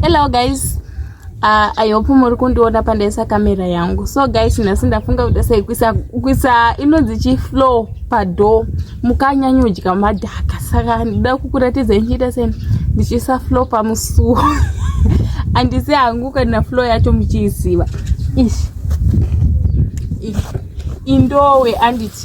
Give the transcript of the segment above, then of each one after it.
Hello guys. Uh, I hope muri kundiona pandaisa kamera yangu. So guys, nhasi ndafunga kuti sei kuisa kuisa inonzi chi flow pado mukanyanyodya madhaka. Saka ndida kukuratidza nchiita sei ndichiisa flow pamusuo. Andisi hangu kana flow yacho muchiiziva. Ish. Ish. Indowe anditi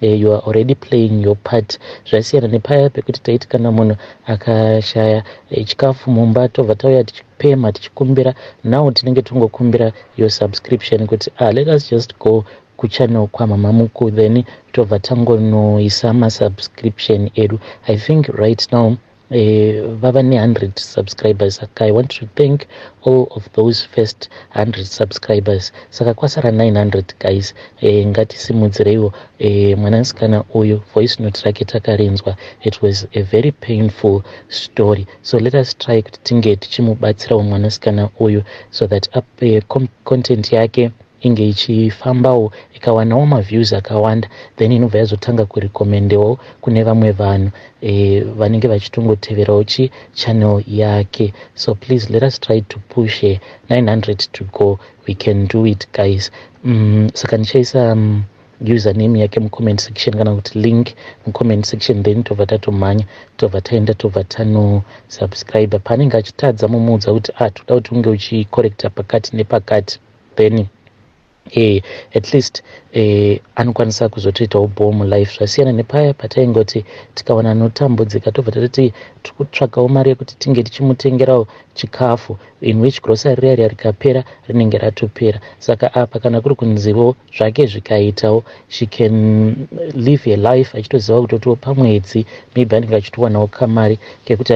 Eh, you are already playing your part zvasiyana nepaya pekuti taiti kana munhu akashaya eh, chikafu mumba tobva tauya tichipema tichikumbira now tinenge tongokumbira your subscription kuti ah, let us just go kuchannel kwamama muku then tobva tangonoisa masubscription edu i think right now Eh, vava ne100 subscribers saka i want to thank all of those first 100 subscribers saka kwasara 900 guys eh, ngatisimudzireiwo eh, mwanasikana uyu voice note rake takarinzwa it was a very painful story so let us try kuti tinge tichimubatsirawo mwanasikana uyu so that up, eh, content yake inge ichifambawo ikawanawo maviews akawanda then inobva yazotanga kurekomendewo kune vamwe vanhu eh, vanenge vachitongoteverawo chi channel yake so please let us try to push her 900 to go we can do it guys mm, saka ndichaisa um, username yake mucomment section kana kuti link mucomment section then tobva tatomhanya tobva taenda tobva tanosubscribe paanenge achitadza mumuudza kuti ah toda kuti unge uchicorrecta pakati nepakati then eh, at least eh, anokwanisa kuzotoitawo bhoo mulife zvasiyana nepaya pataingoti tikawana anotambudzika tobva tatoti tiri kutsvagawo mari yekuti tinge tichimutengerawo chikafu in which grocery riya riya rikapera rinenge ratopera saka apa kana kuri kunzivo zvake zvikaitawo she can live a life achitoziva kutotiwo pamwedzi maybe anenge achitowanawo kamari kekuti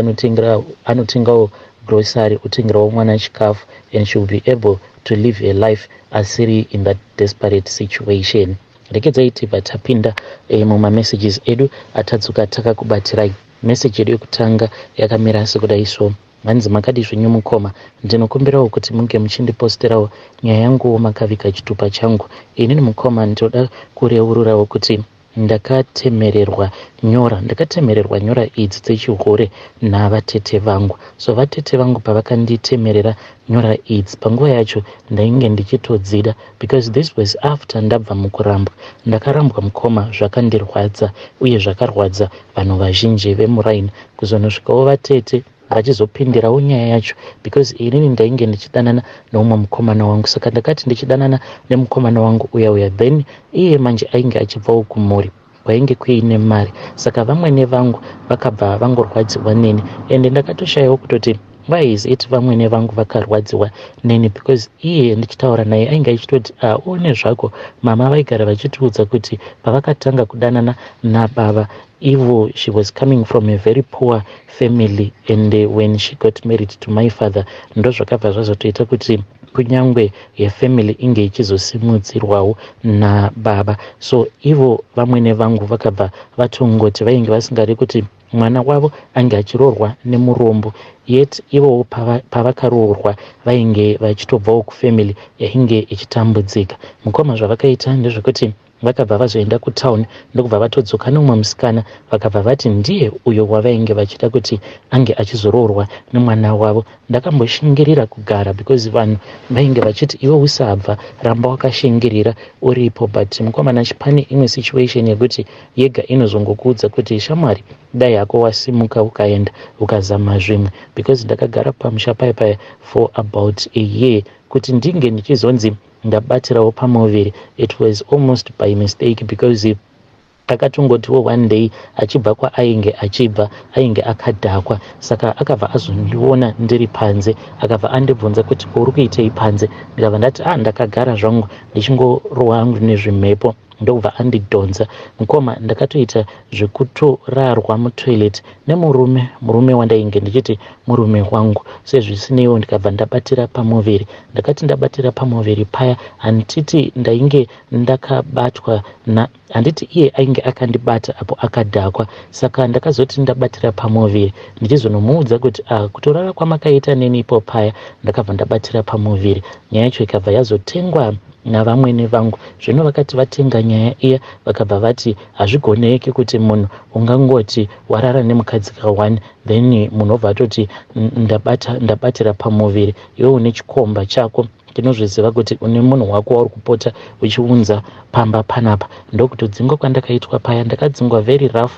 anotengawo grocery otengerawo mwana chikafu and she will be able to live a life asiri in that desperate situation rekedzayi tibva tapinda eh, mumamessages edu atadzoka takakubatirai message yedu yekutanga yakamira sekudai so hanzi makadi zvenyu mukoma ndinokumbirawo kuti munge muchindiposterawo nyaya yanguwo makavika chitupa changu inini mukoma ndinoda kureururawo kuti Ndakatemererwa nyora ndakatemererwa nyora idzi dzechihure navatete vangu. So vatete vangu pavakanditemerera nyora idzi panguva yacho ndainge ndichitodzida because this was after ndabva mukurambwa. Ndakarambwa mukoma zvakandirwadza uye zvakarwadza vanhu vazhinji vemuraini kuzonosvikawo vatete. hachizopindirawo nyaya yacho because inini ndainge ndichidanana neumwe mukomana wangu saka ndakati ndichidanana nemukomana wangu uya uya then iye manje ainge achibvawo kumhuri kwainge kuine mari saka vamwene vangu vakabva vangorwadziwa neni ende ndakatoshayawo kutoti why is it vamwene vangu vakarwadziwa neni because iye ndichitaura naye ainge achitoti aone ah, zvako mama vaigara vachitiudza kuti pavakatanga kudanana nababa Ivo she was coming from a very poor family and eh, when she got married to my father ndozvakabva zvazotoita kuti kunyangwe yefamily inge ichizosimudzirwawo nababa so ivo vamwene vangu vakabva vatongoti vainge vasingadi kuti mwana wavo ange achiroorwa nemurombo yet ivowo pavakaroorwa vainge vachitobvawo kufamily yainge ichitambudzika mukoma zvavakaita ndezvekuti Vakabva vazoenda kutown ndokubva vatodzoka neumwe musikana vakabva vati ndiye uyo wavainge vachida kuti ange achizoroorwa nemwana wavo. Ndakamboshingirira kugara because vanhu vainge vachiti iwe usabva ramba wakashingirira uripo but mukomana pane imwe situation yekuti yega inozongokuudza kuti shamwari dai hako wasimuka ukaenda ukazama zvimwe because ndakagara pamusha paya paya for about a year kuti ndinge ndichizonzi Ndabatirawo pamuviri it was almost by mistake because takatongotiwo one day achibva kwaainge achibva ainge akadhakwa saka akabva azondiona ndiri panze akabva andibvunza kuti uri kuitei panze ndikabva ndati ah ndakagara zvangu ndichingorohwa hangu nezvimhepo ndokubva andidhonza mukoma ndakatoita zvekutorarwa mutoilet nemurume murume wandainge ndichiti murume wangu sezvisineiwo ndikabva ndabatira pamuviri ndakati ndabatira pamuviri paya handiti ndainge ndakabatwa na handiti iye ainge akandibata apo akadhakwa saka ndakazoti ndabatira pamuviri ndichizonomuudza kuti a ah, kutorara kwamakaita neni ipo paya ndakabva ndabatira pamuviri nyaya yacho ikabva yazotengwa navamwene vangu. Zvino vakati vatenga nyaya iya, vakabva vati, Hazvigoneki kuti munhu ungangoti warara nemukadzi ka one, then munhu obva atoti ndabata, ndabatira pamuviri, iwe une chikomba chako, ndinozviziva kuti une munhu wako wauri kupota uchiunza pamba panapa. Ndokutodzingwa kwandakaitwa paya, ndakadzingwa very rough,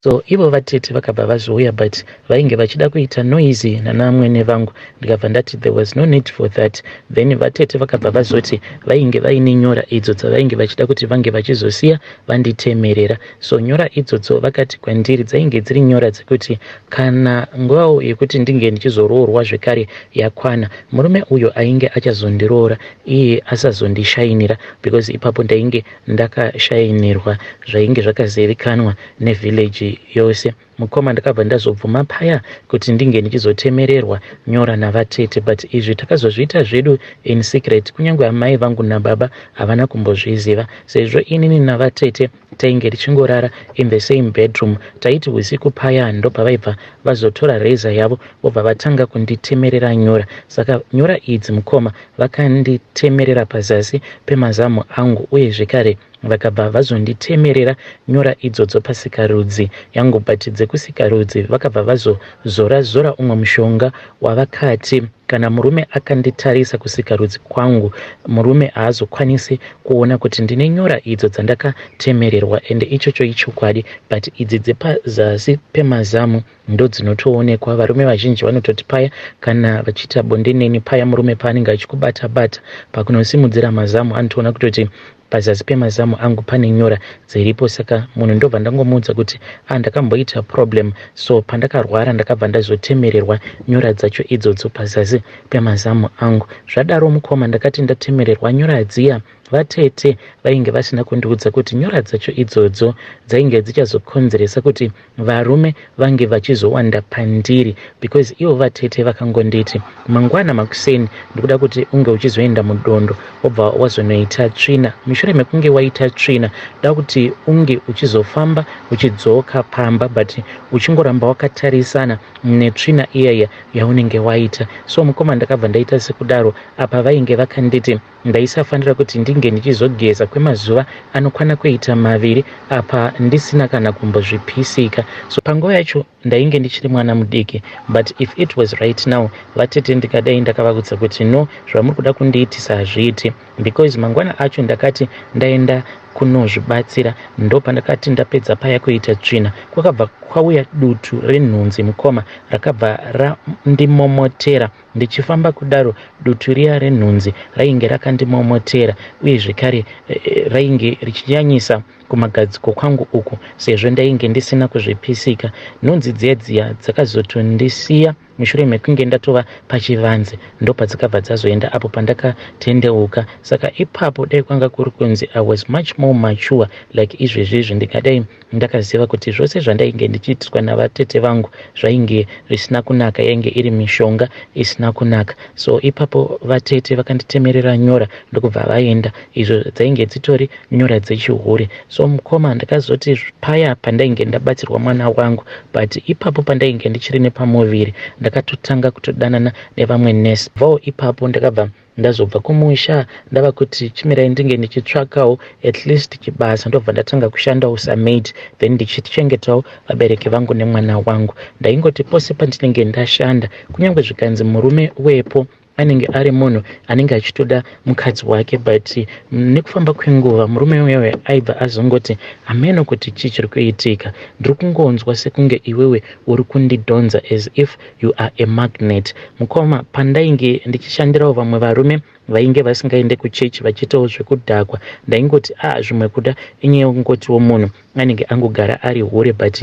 So ivo vatete vakabva vazouya but vainge vachida kuita noisy nanaamwene vangu ndikabva ndati there was no need for that then vatete vakabva vazoti vainge vaine nyora idzo dzavainge vachida kuti vange vachizosiya vanditemerera so nyora idzodzo vakati kwandiri dzainge dziri nyora dzekuti kana nguvawo yekuti ndinge ndichizoroorwa zvekare yakwana murume uyo ainge achazondiroora iye asazondishainira because ipapo ndainge Ndakashainirwa zvainge zvakazivikanwa nevillage yose. Mukoma ndakabva ndazobvuma paya kuti ndinge ndichizotemererwa nyora navatete but izvi takazozviita zvedu in secret kunyange amai vangu nababa havana kumbozviziva sezvo inini navatete tainge tichingorara in the same bedroom taiti husiku paya ndopavaibva vazotora razor yavo vobva vatanga kunditemerera nyora saka nyora idzi mukoma Vakanditemerera pazasi pemazamu angu uye zvekare vakabva vazonditemerera nyora idzodzo pasikarudzi yangu but dzekusikarudzi vakabva vazozora zora umwe mushonga wavakati kana murume akanditarisa kusikarudzi kwangu murume haazokwanisi kuona kuti ndine nyora idzo dzandakatemererwa ende ichocho ichokwadi but idzi dzepazasi pemazamu ndodzinotoonekwa varume vazhinji vanototi paya kana vachiita bonde neni paya murume paanenge achikubata bata pakunosimudzira mazamu anotoona kutoti pazasi pemazamu angu pane nyora dziripo saka munhu ndobva ndangomuudza kuti ah ndakamboita problem so pandakarwara ndakabva ndazotemererwa nyora dzacho idzodzo pazasi pemazamu angu zvadaro mukoma ndakati ndatemererwa nyora dziya vatete vainge vasina kundiudza kuti nyora dzacho idzodzo dzainge dzichazokonzeresa kuti Varume vange vachizowanda pandiri because ivo vatete vakangonditi mangwana makuseni ndikuda kuti unge uchizoenda mudondo wobva wazonoita tsvina. Mushure mekunge waita tsvina ndoda kuti unge uchizofamba uchidzoka pamba but uchingoramba wakatarisana netsvina iyaiya yaunenge waita. So mukoma ndakabva ndaita sekudaro apa vainge vakanditi. Ndaisafanira kuti ndinge ndichizogeza kwemazuva anokwana kuita maviri apa ndisina kana kumbozvipisika. So panguva yacho ndainge ndichiri mwana mudiki but if it was right now vatete ndikadai ndakavaudza kuti no zvamuri kuda kundiitisa hazviiti because mangwana acho ndakati ndaenda kunozvibatsira ndopandakati ndapedza paya kuita tsvina kwakabva kwauya dutu renhunzi mukoma rakabva randimomotera Ndichifamba kudaro, dutu riya renhunzi rainge rakandimomotera uye zvekare eh, eh, rainge richinyanyisa kumagadziko kwangu uku sezvo ndainge ndisina kuzvipisika. Nhunzi dziya dziya dzakazotondisiya mushure mekunge ndatova pachivanze ndopadzakabva dzazoenda apo pandakatendeuka saka ipapo dai kwanga kuri kunzi i was much more mature like izvezvi izvi ndingadai Ndakaziva kuti zvose zvandainge ndichiitirwa navatete vangu zvainge zvisina kunaka yainge iri mishonga isina kunaka so ipapo vatete vakanditemerera nyora ndokubva vaenda izvo dzainge dzitori nyora dzechihure so mukoma ndakazoti paya pandainge ndabatsirwa mwana wangu but ipapo pandainge ndichiri nepamuviri ndakatotanga kutodanana nevamwe nurse voo ipapo ndakabva Ndazobva kumusha ndava kuti chimirai ndinge ndichitsvakawo at least chibasa ndobva ndatanga kushandawo samaid then ndichichengetawo vabereki vangu nemwana wangu. Ndaingoti pose pandinenge ndashanda kunyange zvikanzi murume wepo anenge ari munhu anenge achitoda mukadzi wake but nekufamba kwenguva murume uyewe aibva azongoti hameno kuti chii chiri kuitika ndiri kungonzwa sekunge iwewe uri kundidhonza as if You are a magnet mukoma pandainge ndichishandirawo vamwe varume vainge vasingaende kuchurch vachiitawo zvekudhakwa ndaingoti a ah, zvimwe kuda inyaya yokungotiwo munhu anenge angogara ari hure but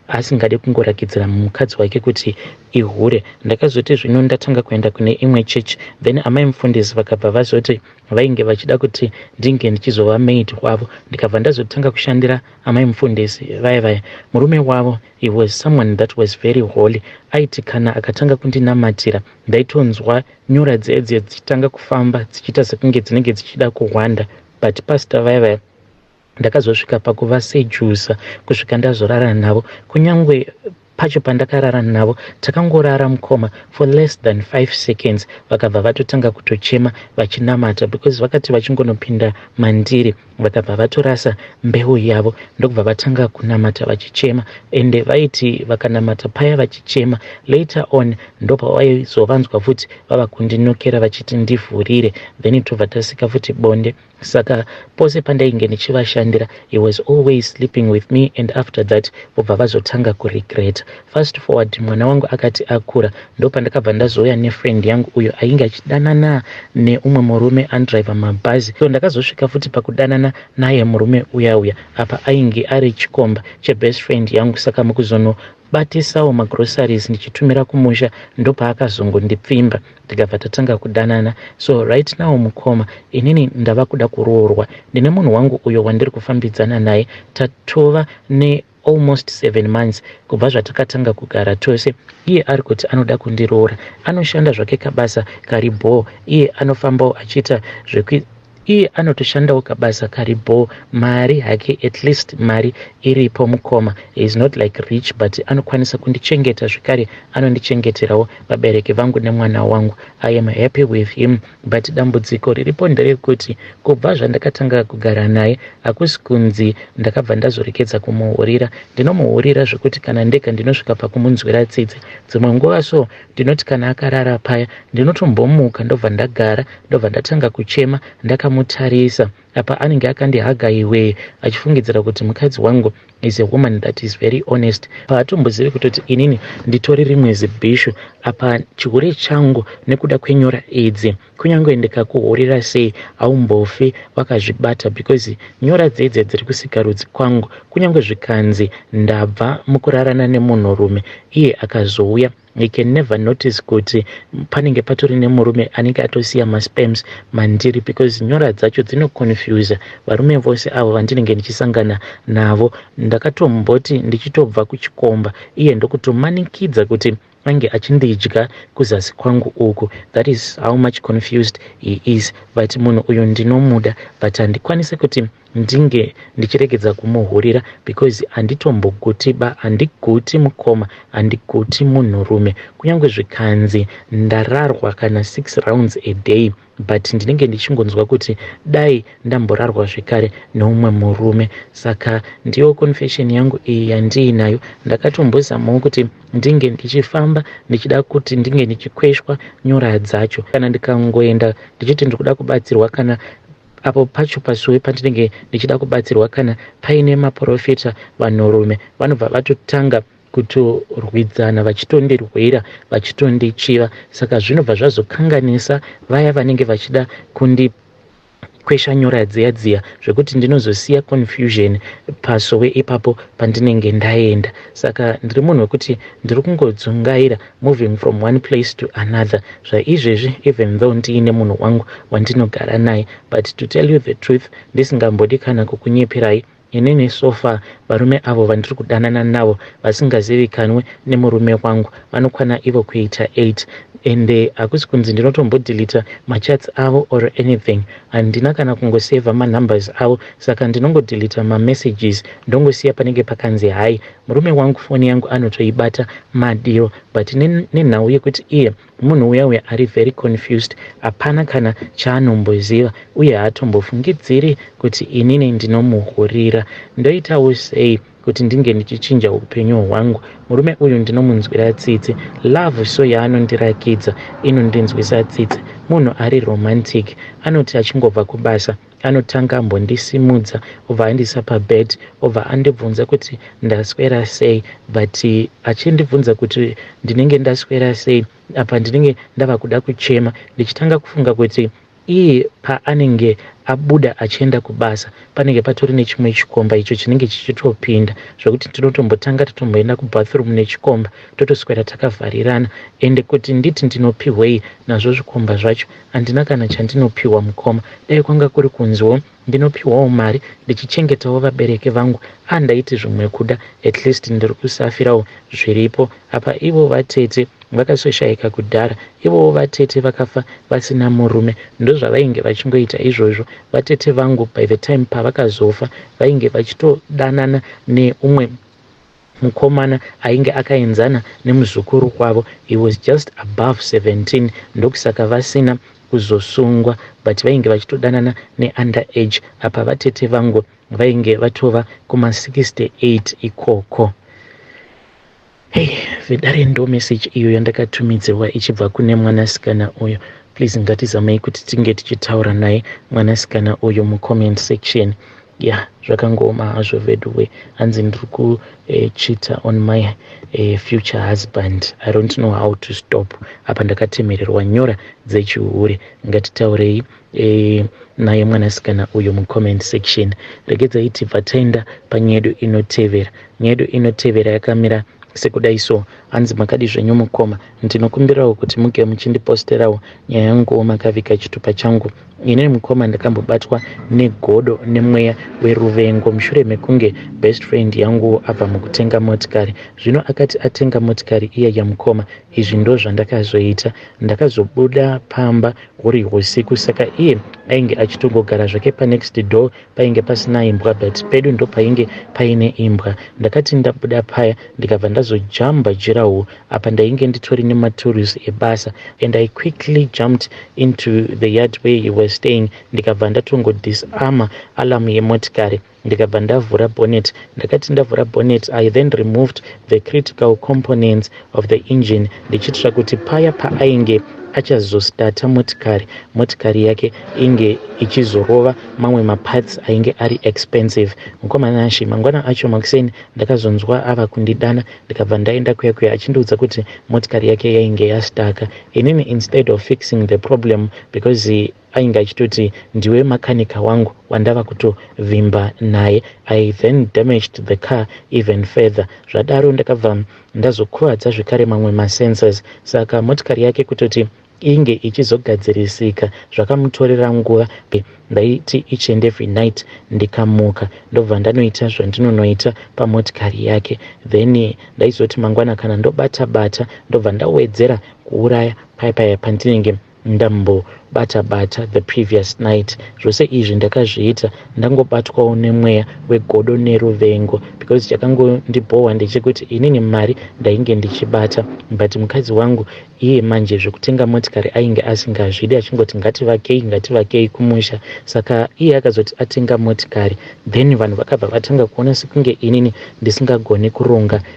asingade kungorakidzira mukadzi wake kuti ihure ndakazoti zvino ndatanga kuenda kune imwe church then amai mufundisi vakabva vazoti vainge vachida kuti ndinge ndichizova maid wavo ndikabva ndazotanga kushandira amai mufundisi vaya vaya murume wavo He was someone that was very holy aiti kana akatanga kundinamatira ndaitonzwa nyora dziya dziya dzichitanga kufamba dzichiita sekunge dzinenge dzichida kuhwanda but pastor vaya vaya ndakazosvika pakuvasejusa kusvika ndazorara navo kunyange pacho pandakarara navo takangorara mukoma for less than five seconds vakabva vatotanga kutochema vachinamata because vakati vachingonopinda mandiri Vakabva vatorasa mbeu yavo ndokubva vatanga kunamata vachichema ende vaiti vakanamata paya vachichema later on ndopawaizovanzwa futi vava kundinokera vachiti ndivhurire then tobva tasika futi bonde saka pose pandainge ndichivashandira he was always sleeping with me and after that vobva vazotanga kuregreta Fast forward mwana wangu akati akura ndopandakabva ndazouya nefriend yangu uyo ainge achidanana neumwe murume andriver mabhazi so ndakazosvika futi pakudanana naye murume uya uya apa ainge ari chikomba chebest friend yangu saka mukuzono batisawo magroceries ndichitumira kumusha ndopaakazongondipfimba tikabva tatanga kudanana so right now mukoma inini ndava kuda kuroorwa ndine munhu wangu uyo wandiri kufambidzana naye tatova ne almost seven months kubva zvatakatanga kugara tose iye ari kuti anoda kundiroora anoshanda zvake kabasa kari bhoo iye anofambawo achiita zvekui iye anotoshandawo kabasa kari bhoo mari hake at least mari iripo mukoma is not like rich but anokwanisa kundichengeta zvekare anondichengeterawo vabereki vangu nemwana wangu i am happy with him but dambudziko riripo nderekuti kubva zvandakatanga kugara naye hakusi kunzi ndakabva ndazorekedza kumuhurira ndinomuhurira zvekuti kana ndega ndinosvika pakumunzwira tsitsi dzimwe nguva so ndinoti kana akarara paya ndinotombomuka ndobva ndagara ndobva ndatanga kuchema ndakamutarisa Apa anenge akandihaga iwe achifungidzira kuti mukadzi wangu is a woman that is very honest. Paatombozivi kutoti inini nditori rimwe zibhishu apa chihure changu nekuda kwenyora idzi. Kunyange ndikakuhurira sei haumbofi wakazvibata because nyora dzedze dziri kusikarudzi kwangu kunyange zvikanzi ndabva mukurarana nemunhurume iye akazouya I can never notice kuti panenge patori nemurume anenge atosiya masperms mandiri because nyora dzacho dzinoconfuser varume vose avo vandinenge ndichisangana navo. Ndakatomboti ndichitobva kuchikomba iye ndokutomanikidza kuti ange achindidya kuzasi kwangu uku. That is how much confused he is but munhu uyu ndinomuda but handikwanise kuti ndinge ndichiregedza kumuhurira because anditomboguti ba andiguti mukoma andiguti munhurume kunyange zvikanzi ndararwa kana six rounds a day but ndinenge ndichingonzwa kuti dai ndamborarwa zvekare neumwe murume saka ndiyo confession yangu iyi yandiinayo ndakatombozamawo kuti ndinge ndichifamba ndichida kuti ndinge ndichikweshwa nyora dzacho kana ndikangoenda ndichiti ndiri kuda kubatsirwa kana Apo pacho pasowe pandinenge ndichida kubatsirwa kana paine maporofita vanhurume vanobva vatotanga kutorwidzana vachitondirwira vachitondichiva saka zvinobva zvazokanganisa vaya vanenge vachida kundi kwesha nyora dziya dziya zvekuti ndinozosiya confusion pasowe ipapo pandinenge ndaenda saka ndiri munhu wekuti ndiri kungodzungaira moving from one place to another zvaizvezvi even though ndiine munhu wangu wandinogara naye but to tell you the truth ndisingambodi kana kukunyeperai inini so far varume avo vandiri kudanana navo vasingazivikanwe nemurume wangu vanokwana ivo kuita 8 ende hakusi kunzi ndinotombodilita machats avo or anything handina kana kungoseva manumbers avo saka ndinongodilita mamessages ndongosiya panenge pakanzi hai Murume wangu foni yangu anotoibata madiro but nenhau yekuti iye munhu uya uya ari very confused hapana kana chaanomboziva uye haatombofungidziri kuti inini ndinomuhurira. Ndoitawo sei kuti ndinge ndichichinja upenyu hwangu? Murume uyu ndinomunzwira tsitsi. Love so yaanondirakidza inondinzwisa tsitsi. Munhu ari romantic. Anoti achingobva kubasa. Anotanga ambondisimudza obva andiisa pabed obva andibvunza kuti ndaswera sei but achindibvunza kuti ndinenge ndaswera sei apa ndinenge ndava kuda kuchema ndichitanga kufunga kuti iye paanenge abuda achienda kubasa panenge patori nechimwe chikomba icho chinenge chichitopinda zvekuti tinotombotanga tatomboenda kubathroom nechikomba totoswera takavharirana ende kuti nditi ndinopihwei nazvo zvikomba zvacho Handina kana chandinopihwa mukoma. Dai kwanga kuri kunziwo ndinopihwawo mari ndichichengetawo vabereki vangu ah ndaiti zvimwe kuda at least ndiri kusafirawo zviripo apa ivo vatete vakasoshaika kudhara ivowo vatete vakafa vasina murume ndozvavainge vachingoita izvozvo vatete vangu by the time pavakazofa vainge vachitodanana neumwe Mukomana ainge akaenzana nemuzukuru wavo he was just above 17 ndokusaka vasina kuzosungwa but vainge vachitodanana neunder age apa vatete vangu vainge vatova kuma 68 ikoko. Hey vedare ndo message iyo yandakatumidzirwa ichibva kune mwanasikana uyo. Please ngatizamei kuti tinge tichitaura naye mwanasikana uyo mucomment section. Yeah zvakangooma hazvo veduwe hanzi ndiri kuchita eh, on my eh, future husband i don't know how to stop apa ndakatemererwa nyora dzechihure ngatitaurei eh, naye mwanasikana uyo mucomment section regedzai tibva taenda panyedu inotevera nyedu inotevera yakamira sekudai so hanzi makadi zvenyu mukoma ndinokumbirawo kuti muge muchindiposterawo nyaya yanguwo makavika chitupa changu Inini mukoma ndakambobatwa negodo nemweya weruvengo mushure mekunge best friend yangu abva mukutenga motikari. Zvino akati atenga motikari iya yamukoma, izvi ndozvandakazoita. Ndakazobuda pamba huri husiku saka iye ainge achitongogara zvake panext door painge pasina imbwa but pedu ndopainge paine imbwa ndakati ndabuda paya ndikabva ndazojamba jirawo apa ndainge nditori nematories ebasa and i quickly jumped into the yard where he was staying ndikabva ndatongo disarma alarm yemotikari ndikabva ndavhura bonnet ndakati ndavhura bonnet i then removed the critical components of the engine ndichiitira kuti paya paainge achazostarta motikari motikari yake inge ichizorova mamwe maparts ainge ari expensive mukoma nashi mangwana acho makuseni ndakazonzwa ava kundidana ndikabva ndaenda kuya kuya achindiudza kuti motikari yake yainge yastaka inini instead of fixing the problem because Ainge achitoti ndiwe makanika wangu wandava kutovimba naye. I then damaged the car even further. Zvadaro ndakabva ndazokuvadza zvekare mamwe masenses saka motikari yake kutoti inge ichizogadzirisika zvakamutorera nguva be ndaiti ichienda every night ndikamuka ndobva ndanoita zvandinonoita pamotikari yake then ndaizoti mangwana kana ndobata bata ndobva ndawedzera kuuraya paya paya pandinenge ndambobata bata the previous night zvose izvi ndakazviita ndangobatwawo nemweya wegodo neruvengo because chakangondibhohwa ndechekuti inini mari ndainge ndichibata but mukadzi wangu iye manje zvekutenga motikari ainge asingazvidi achingoti ngativakei ngativakei kumusha saka iye akazoti atenga motikari then vanhu vakabva vatanga kuona sekunge inini ndisingagoni kuronga